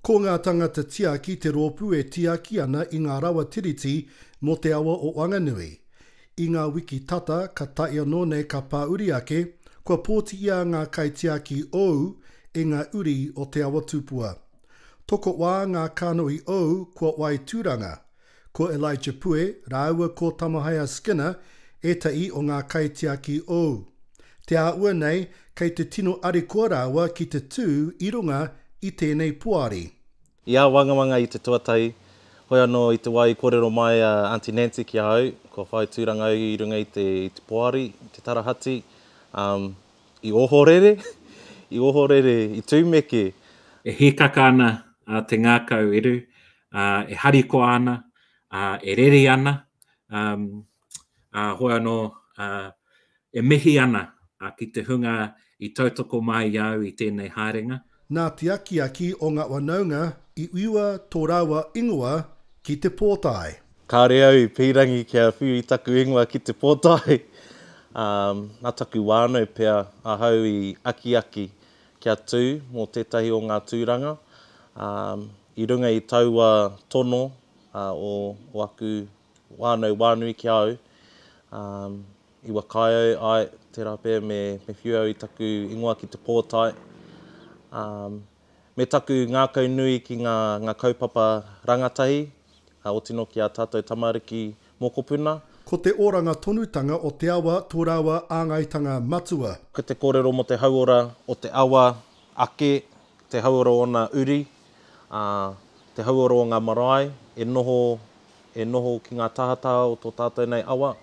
Ko ngā tangata tiaki te rōpū e tiaki ana i ngā rawa tiriti mō te awa o Wanganui. I ngā wiki tata ka tae anō nei ka pāuri ake, kua pōtiia ngā kaitiaki ou e ngā uri o Te Awa Tupua. Tokoʻwā ngā kānohi ou kua wae tūranga, Ko Elijah Pue rāua ko Tamahaia Skinner ētahi o ngā kaitiaki ou. Te āhua nei kei te tino arikoa rāua ki te tū i runga i tēnei poari. I āwangawanga i te tuatahi, hoi anō i te wā i kōrero mai a Aunty Nancy ki a au, kua whai tūranga au i runga i te i te poari, i te tarahati, um, i ohorere, i ohorere, i tūmeke. E hīkaka ana te ngākau eru, ā, e harikoa ana, ā, e rere ana, ā, ā, hoi anō, ā, e mihi ana ki te hunga i tautoko mai i a au i tēnei haerenga. Nā te akiaki o ngā whanaunga i whiua tō rāua ingoa ki te pōtae. Kāore au i pīrangi kia whiu i taku ingoa ki te pōtae, ā, nā taku whānau pea ahau i akiaki kia tū mō tētahi o ngā tūranga, ā, I runga i taua tono o aku whānau wānui ki a au, i whakaae ai tērā pea me whiu au i taku ingoa ki te pōtae, me taku ngākau nui ki ngā kaupapa rangatahi, o tino ki a tātou tamariki mokopuna. Ko te oranga tonutanga o te awa tō rāua āngaitanga matua. Ko te kōrero mō te hauora o te awa ake te hauora o ōna uri, ā, te hauora o ngā marae e noho, e noho ki ngā tahataha o tō tātou nei awa,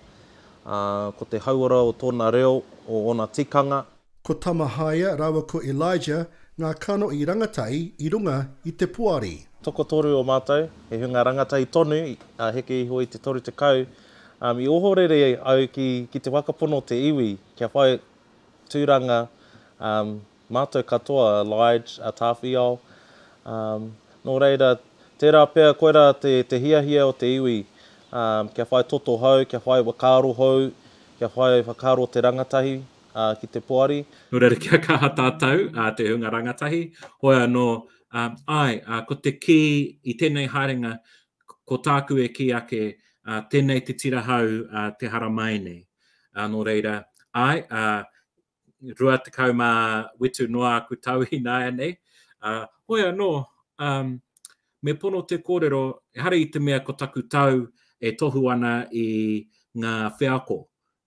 ā, ko te hauora o tōna reo, o ōna tikanga. Ko Tamahaia rāua ko Elijah ngā kano i rangatai i runga i te poari. Tokotoru o mātou, he hunga rangatai tonu, ā, heke iho i te toru tekau, ā, i ohorere au ki, ki te whakapono te iwi kia whai tūranga, ā, Mātou katoa, a Lige, a Tāwhiao. Nō reira, tērā pea koirā te hiahia o te iwi kia whai toto hou, kia whai whakaaro hou, kia whai whakaaro o te rangatahi ki te poari. Nō reira, kia kaha tātou, te hunga rangatahi, hoi anō, āe, ko te kī i tēnei haerenga, ko tāku e kī ake, tēnei te tira hou te hara māi nei. Nō reira, āe, rua tekau mā whitu noa aku tau ināianei, ā, hoi anō, ā, me pono te kōrero, ehara i te mea ko taku tau e tohu ana i ngā wheako,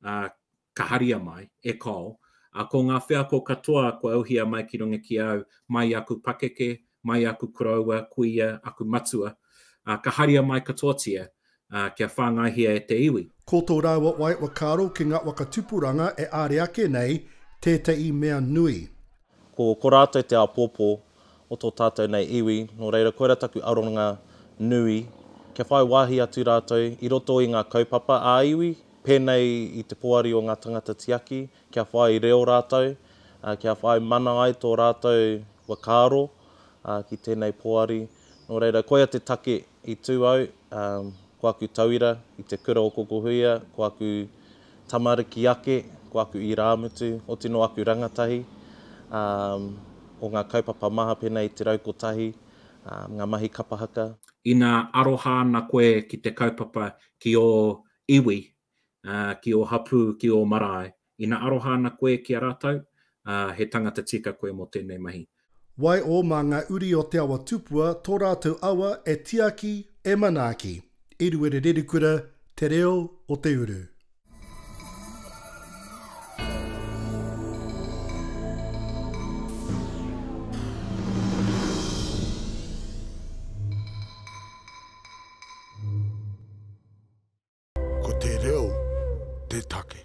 ā, ka haria mai, e Col, ā, ko ngā wheako katoa kua uhia mai ki runga ki au, mai i aku pakeke, mai aku koroua, kuia, aku matua, ā, ka haria mai katoatia, ā, kia whāngaihia e te iwi. Ko tō rāua wai whakaaro ki ngā waka tupuranga e āre ake nei tētahi mea nui. Ko, ko rātou te āpōpō o tō tātou nei iwi, nō reira koira taku aronga nui, kia whai wāhi atu rātou i roto i ngā kaupapa ā-iwi, pēnei i te poari o ngā tangata tiaki, kia whai reo rātou, kia whai mana ai tō rātou whakaaro ki tēnei poari. Nō reira, koia te take i tū au, ko aku tauira i te kura o Kokohuia, ko aku tamariki ake, ko aku irāmutu, oti nō aku rangatahi o ngā kaupapa maha pēnei i te rau kotahi, ngā mahi kapa haka. Ina aroha ana koe ki te kaupapa ki ō iwi, ā, ki ō hapū, ki ō marae. Ina aroha ana koe ki a rātou, ā, he tangata tika koe mō tēnei mahi. Waiho mā ngā uri o Te Awa Tupua tō rātou awa e tiaki, e manaaki. Eruere Rerikura, Te Reo o te Uru. Ko te reo te take.